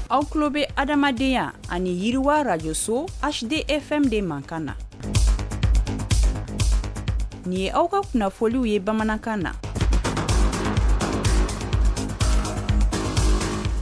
aw tulo bɛ adamadenya ani yiriwa radio so hdfm de mankan na nin ye aw ka kunnafoliw ye bamanankan na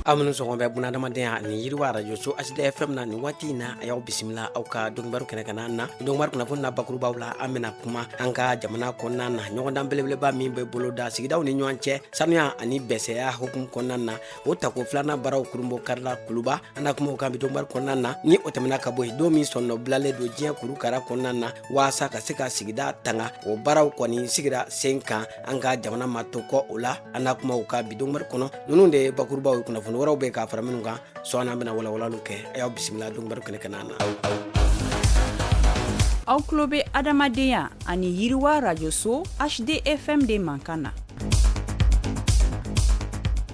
aw minnu sɔgɔlen bɛ bun na adamadenya ani yiriwa radio so hdfm na nin waati in na a y'aw bisimila aw ka donkibaru kɛnɛ kana na donkibaru kunnafoni na bakurubaw la an bɛna kuma an ka jamana kɔnɔna na ɲɔgɔndan belebeleba min bɛ boloda sigidaw ni ɲɔgɔn cɛ sanuya ani bɛsɛya hukumu kɔnɔna na o tako filanan baaraw kurunbonkarila kuluba an na kuma o kan bi donkibaru kɔnɔna na ni o tɛmɛna ka bɔ yen don min sɔnnɔ bilalen don diɲɛ kuru kara kɔnɔna na waasa ka se ka sigida tanga o baaraw kɔni sigira sen kan an ka jamana ma to kɔ o la an na kuma o kan bi donkibaru kɔnɔ ninnu de ye bakurubaw ye kunnafoni wɛrɛw bɛ ka fara minnu kan sɔɔni an bɛna walawalali kɛ a y'aw bisimila donkibaru kɛnɛ kana na aw tulo bɛ adamadenya ani yiriwa radio so hdfm de mankan na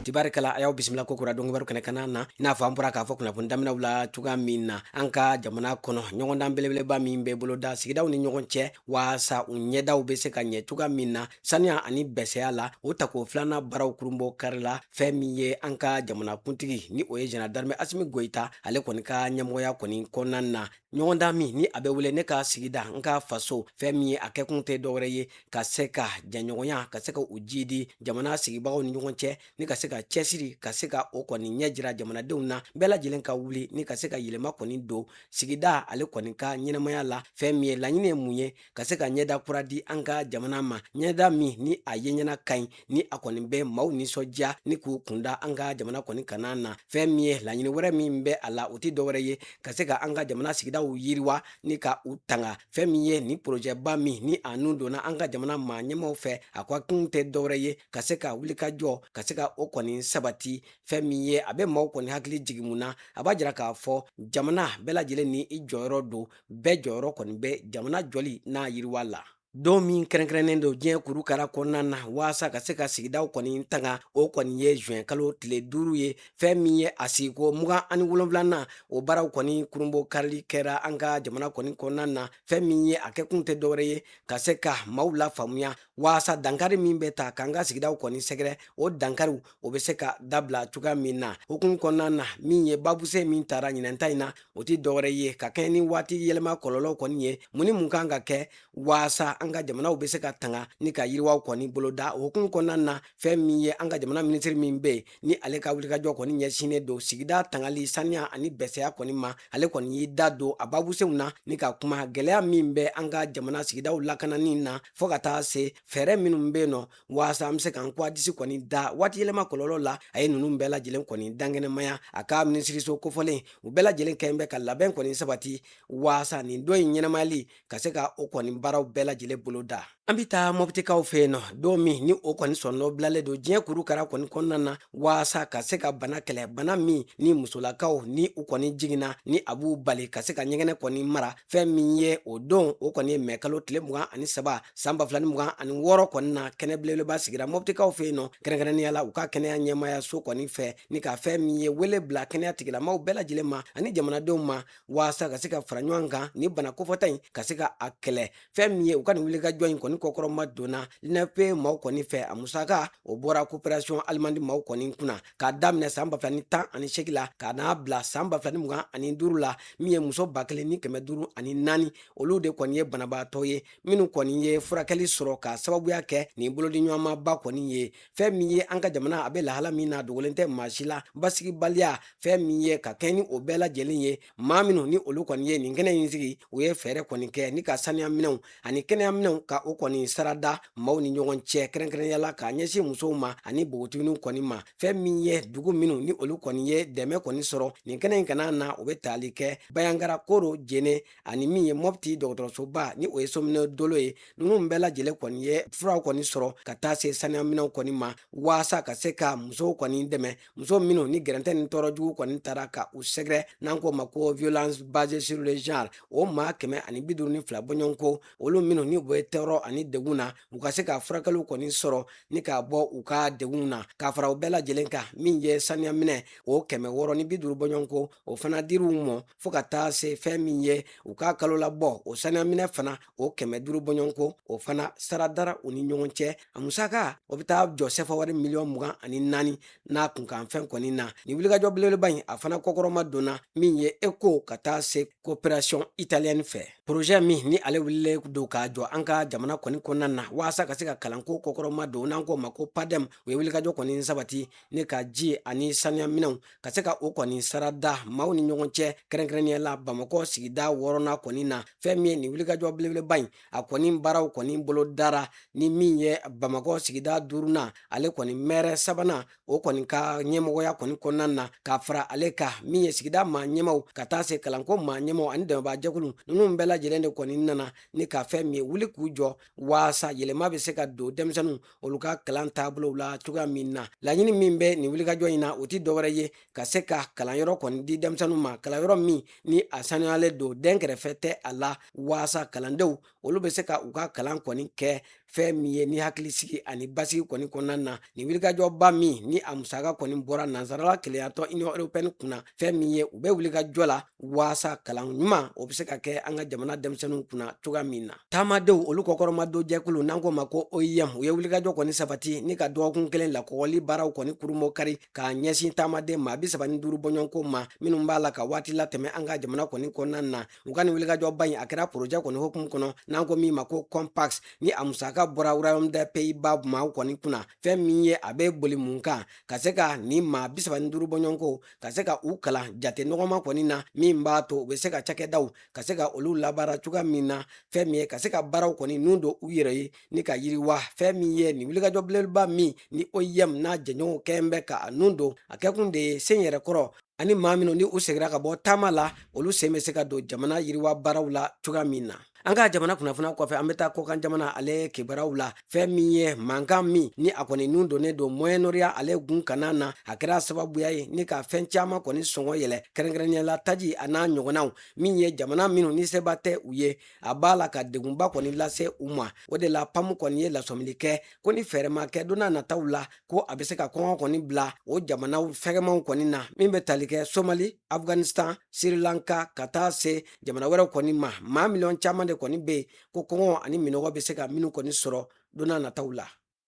tibarikɛla a y'aw bisimila ko kura donkibaru kɛnɛ kana na i n'a fɔ an bɔra k'a fɔ kunnafoni daminɛw la cogoya min na an ka jamana kɔnɔ ɲɔgɔndan belebeleba min bɛ boloda sigidaw ni ɲɔgɔn cɛ waasa u ɲɛdaw bɛ se ka ɲɛ cogoya min na saniya ani bɛsɛya la o tako filanan baaraw kurunbonkarila fɛn min ye an ka jamanakuntigi ni o ye général d'armée asimi goyita ale kɔni ka ɲɛmɔgɔya kɔni kɔnɔna na ɲɔgɔndan min ni a bɛ wele ne ka sigida n ka faso fɛn min ye a kɛkun tɛ dɔwɛrɛ ye ka se ka jɛɲɔgɔnya ka se ka u jiidi jamana sigibagaw ni ɲɔgɔn cɛ ni ka se ka cɛsiri ka se ka o kɔni ɲɛ jira jamanadenw na bɛɛ lajɛlen ka wuli ni ka se ka yɛlɛma kɔni don sigida ale kɔni ka ɲɛnamaya la fɛn min ye laɲini ye mun ye ka se ka ɲɛda kura di an ka jamana ma ɲɛda min ni a ye ɲɛna ka ɲi ni a kɔni bɛ maaw nisɔndiya ni k'u kun da an ka jamana kɔni kana na fɛn min ye laɲini wɛrɛ min bɛ a la o tɛ dɔwɛrɛ ye ka se ka an ka jamana sigidaw yiriwa ni ka u tanga fɛn min ye ni porojɛba min ni a nun donna an ka jamana maa ɲɛmaw fɛ a kɛkun tɛ dɔwɛrɛ ye ka se ka wulikajɔ ka se ka o kɔni sabati fɛn min ye a bɛ maaw kɔni hakili jigin mun na a b'a jira k'a fɔ jamana bɛɛ lajɛlen ni i jɔyɔrɔ don bɛɛ jɔyɔrɔ kɔni bɛ jamana jɔli n'a yiriwa la don min kɛrɛnkɛrɛnnen don diɲɛ kuru kara kɔnɔna na waasa ka se ka sigidaw kɔni tanga o kɔni ye juin kalo tile duuru ye fɛn min ye a sigiko mugan ani wolonwulanan o baaraw kɔni kurunbonkarili kɛra an ka jamana kɔni kɔnɔna na fɛn min ye a kɛkun tɛ dɔwɛrɛ ye ka se ka maaw lafaamuya waasa dankari min bɛ ta k'an ka sigidaw kɔni sɛgɛrɛ o dankariw o bɛ se ka dabila cogoya min na hukumu kɔnɔna na min ye babusen min tara ɲinɛnta in na o tɛ dɔwɛrɛ ye ka kɛɲɛ ni waati yɛlɛma kɔlɔlɔ kɔni ye mun ni mun kan ka kɛ waasa an ka jamanaw bɛ se ka tanga ni ka yiriwaw kɔni boloda o hukumu kɔnɔna na fɛn min ye an ka jamana minisiri min bɛ yen ni ale ka wulikajɔ kɔni ɲɛsinnen don sigida tangali saniya ani bɛsɛya kɔni ma ale kɔni y'i da don a babusenw na ni ka kuma gɛlɛya min bɛ an ka jamana sigidaw lakanani na fɔɔ ka taa se fɛɛrɛ minnu bɛ yen nɔ waasa an be se k'an ko a disi kɔni da waati yɛlɛma kɔlɔlɔ la a ye nunu bɛɛ lajɛlen kɔni dankɛnɛmaya a ka minisiriso kofɔlen u bɛɛ lajɛlen kɛlen bɛ ka labɛn kɔni sabati waasa nin don in ɲɛnamayali ka se ka o kɔni baaraw bɛɛ lajɛlen bolo da an be taa mɔbitikaw fɛ yen nɔ don min ni o kɔni sɔnnɔ bilalen don diɲɛ kuru kara kɔni kɔnɔna na waasa ka se ka bana kɛlɛ bana min ni musolakaw ni u kɔni jiginna ni a b'u bali ka se ka ɲɛgɛnɛ kɔni mara fɛn min ye o don o kɔni ye mɛ kalo tile mugan ani saba san ba filani mugan ani wɔɔrɔ kɔni na kɛnɛ belebeleba sigira mɔbitikaw fɛ yen nɔ kɛrɛnkɛrɛnnenya la u ka kɛnɛya ɲɛmaya so kɔni fɛ ni ka fɛn min ye wele bila kɛnɛya tigilamaw bɛɛ lajɛlen ma ani jamanadenw ma waasa ka se ka fara ɲɔgɔn kan ni bana kofɔta in ka se ka a kɛlɛ fɛn min ye u ka nin wulikajɔ in kɔni kɔkɔrɔma donna l'UNFPA maaw kɔni fɛ a musaka o bɔra koperasiyɔn alimandi maaw kɔni kunna k'a daminɛ san ba fila ni tan ani segin la ka n'a bila san ba fila ni mugan ani duru la min ye muso ba kelen ni kɛmɛ duru ani naani olu de kɔni ye banabaatɔ ye minnu kɔni ye furakɛli sɔrɔ ka sababuya kɛ nin bolodiɲɔgɔnmaba kɔni ye fɛn min ye an ka jamana a bɛ lahala min na dogolen tɛ maa si la basigibaliya fɛn min ye ka kɛɲɛ ni o bɛɛ lajɛlen ye maa minnu ni olu kɔni ye nin kɛnɛ in sigi u ye fɛɛrɛ kɔni kɛ ni ka saniyaminɛw ani kɛnɛyaminɛw ka o kɔni sarada maaw ni ɲɔgɔn cɛ kɛrɛnkɛrɛnnenya la k'a ɲɛsin musow ma ani bogotiginiw kɔni ma fɛn min ye dugu minnu ni olu kɔni ye dɛmɛ kɔni sɔrɔ nin kɛnɛ in kana na u bɛ tali kɛ banjagara koro jene ani min ye mɔpti dɔgɔtɔrɔsoba ni o ye sominɛ dolo ye ninnu bɛɛ lajɛlen kɔni ye furaw kɔni sɔrɔ ka taa se saniyaminɛw kɔni ma waasa ka se ka musow kɔni dɛmɛ muso minnu ni gɛrɛntɛ ni tɔɔrɔ jugu kɔni taara ka u sɛgɛrɛ n'an k'o ma ko violence basée sur le genre o maa kɛmɛ ani bi duuru ni fila bɔɲɔgɔnko olu minnu ni u bɛ tɔɔrɔ ani degun na u ka se ka furakɛliw kɔni sɔrɔ ni k'a bɔ u ka degun na k'a fara u bɛɛ lajɛlen kan min ye saniya minɛ o kɛmɛ wɔɔrɔ ni bi duuru bɔɲɔgɔnko o fana dir'u mɔ fɔ ka taa se fɛn min ye u ka kalolabɔ o saniyaminɛ fana o kɛmɛ duru bɔɲɔgɔnko o fana sara dara u ni ɲɔgɔn cɛ a musaka o be taa jɔ sɛfawari miliyɔn mugan ani naani n'a kunkanfɛn kɔni na nin wulikajɔ belebeleba in a fana kɔkɔrɔma donna min ye eko ka taa se koperasiyɔn italiyɛni fɛ porozɛ min ni ale wulilen don k'a jɔ an ka jamana kɔni kɔnɔna na waasa ka se ka kalanko kɔkɔrɔma don n'an k'o ma ko padɛm u ye wulikajɔ kɔni sabati ni ka ji ani saniyaminɛw ka se ka o kɔni sarada maaw ni ɲɔgɔn cɛ kɛrɛnkɛrɛnnenya la bamakɔ sigida wɔɔrɔnan kɔni na fɛn min ye nin wulikajɔ belebeleba in a kɔni baaraw kɔni bolo dara ni min ye bamakɔ sigida duurunan ale kɔni mɛri sabanan o kɔni ka ɲɛmɔgɔya kɔni kɔnɔna na ka fara ale kan min ye sigida maa ɲɛmaw ka taa se kalanko maa ɲɛmaw ani dɛmɛbaa jɛkulu ninnu bɛɛ lajɛlen de kɔni nana ni ka fɛn min ye wuli k'u jɔ waasa yɛlɛma bɛ se ka don denmisɛnninw olu ka kalan taabolow la cogoya min na laɲini min bɛ nin wulikajɔ in na o tɛ dɔwɛrɛ ye ka se ka kalanyɔrɔ kɔni di denmisɛnninw ma kalanyɔrɔ min ni a sanuyalen don dɛnkɛrɛfɛ tɛ a la waasa kalandenw olu bɛ se ka u ka kalan kɔni kɛ fɛn min ye ni hakili sigi ani basigi kɔni kɔnɔna na nin wulikajɔba min ni a musaka kɔni bɔra nansarala kelenyatɔn union européenne kunna fɛn min ye u bɛ wulikajɔ la waasa kalan ɲuman o bɛ se ka kɛ an ka jamana denmisɛnninw kunna cogoya min na taamadenw olu kɔkɔrɔmadon jɛkulu n'an k'o ma ko oim u ye wulikajɔ kɔni sabati ni ka dɔgɔkun kelen lakɔgɔli baaraw kɔni kurunbonkari k'a ɲɛsin taamaden maa bi saba ni duuru bɔɲɔgɔnko ma minnu b'a la ka waati latɛmɛ an ka jamana kɔni kɔnɔna na u ka nin wulikajɔba in a kɛra porojɛ kɔni hokumu kɔnɔ n'an ko min ma ko compass ni a musaka bɔra royaume des pays-bas maaw kɔni kunna fɛn min ye a bɛ boli mun kan ka se ka nin maa bi saba ni duuru bɔɲɔgɔnko ka se ka u kalan jate nɔgɔman kɔni na min b'a to u bɛ se ka cakɛdaw ka se ka olu labaara cogoya min na fɛn min ye ka se ka baaraw kɔni nun don u yɛrɛ ye ni ka yiriwa fɛn min ye nin wulikajɔ belebeleba min ni oim n'a jɛɲɔgɔnw kɔni bɛ ka a nun don a kɛkun de ye sen yɛrɛ kɔrɔ ani maa minw ni u segira ka bɔ taama la olu sen bɛ se ka don jamana yiriwa baaraw la cogoya min na an ka jamana kunnafoniya kɔfɛ an bɛ taa kɔkan jamana ale kibaruyaw la fɛn min ye mankan min ni a kɔni nun donnen don moyen-orient ale gun kanna na a kɛra sababuya ye ni ka fɛn caman kɔni sɔngɔ yɛlɛ kɛrɛnkɛrɛnnenya la taji a n'a ɲɔgɔnnaw min ye jamana minnu ni seba tɛ u ye a b'a la ka degunba kɔni lase u ma o de la pam kɔni ye lasɔmili kɛ ko ni fɛɛrɛ ma kɛ don n'a nataw la ko a bɛ se ka kɔngɔ kɔni bila o jamanaw fɛgɛmanw kɔni na min bɛ tali kɛ somali afghanistan sri lanka ka taa se jamana wɛrɛw kɔni ma maa miliyɔn caman de kɔni bɛ yen ko kɔngɔ ani minɔgɔ bɛ se ka minnu kɔni sɔrɔ don n'a nataw la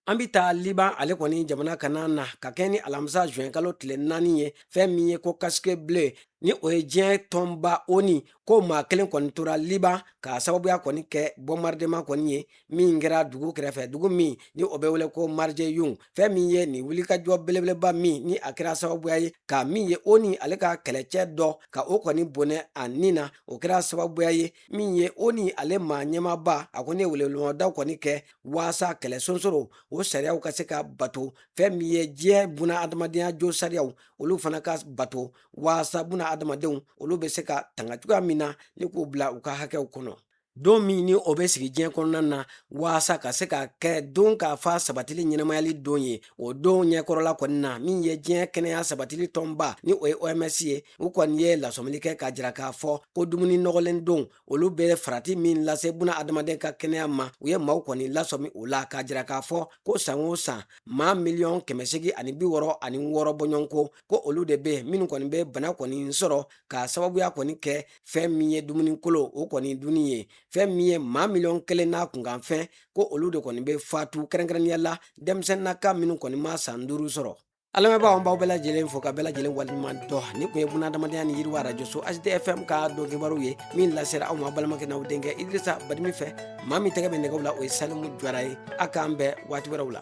an bɛ taa liban ale kɔni jamana kanna na ka kɛɲɛ ni alamisa zuwɛn kalo tile naani ye fɛn min ye ko casque bleu ni o ye diɲɛ tɔnba onu ko maa kelen kɔni tora liban k'a sababuya kɔni kɛ bombardement kɔni ye min kɛra dugu kɛrɛfɛ dugu min ni o bɛ wele ko marjayoun fɛn min ye nin wulikajɔ belebeleba min ni a kɛra sababuya ye ka min ye onu ale ka kɛlɛcɛ dɔ ka o kɔni bonɛ a ni na o kɛra sababuya ye min ye onu ale maa ɲɛmaaba a kɔni ye welewelemadaw kɔni kɛ waasa kɛlɛ sonsoro o sariyaw ka se ka bato fɛn min ye diɲɛ bunadamadenya josariyaw olu fana ka bato waasa bunadamadenw olu bɛ se ka tanga cogoya min na ni k'u bila u ka hakɛw kɔnɔ don min ni o bɛ sigi diɲɛ kɔnɔna na waasa ka se ka kɛ dunkafa sabatili ɲɛnamayali don ye o don ɲɛkɔrɔla kɔni na min ye diɲɛ kɛnɛya sabatili tɔnba ni o ye oms ye u kɔni ye lasɔmili kɛ k'a jira k'a fɔ ko dumuni nɔgɔlen dun olu bɛ farati min lase bunadamaden ka kɛnɛya ma u ye maaw kɔni lasɔmi o la k'a jira k'a fɔ ko san o san maa miliyɔn kɛmɛ segin ani bi wɔɔrɔ ani wɔɔrɔ bɔɲɔgɔnko ko olu de bɛ minnu kɔni bɛ bana kɔni sɔrɔ k'a sababuya kɔni kɛ fɛn min ye dumuni kolon o kɔni dunni ye fɛn min ye maa miliyɔn kelen n'a kunkanfɛn ko olu de kɔni bɛ fatu kɛrɛnkɛrɛnnenya la denmisɛnninna ka minnu kɔni ma san duuru sɔrɔ a lamɛnbaaw an b'aw bɛɛ lajɛlen fo k'aw bɛɛ lajɛlen waleɲuman dɔn nin tun ye bunadamadenya ni yiriwa arajoso hdfm ka don kibaru ye min lasera aw ma balimakɛ n'aw denkɛ idrisa badimi fɛ maa min tɛgɛ bɛ nɛgɛw la o ye salimu jara ye a k'an bɛn waati wɛrɛw la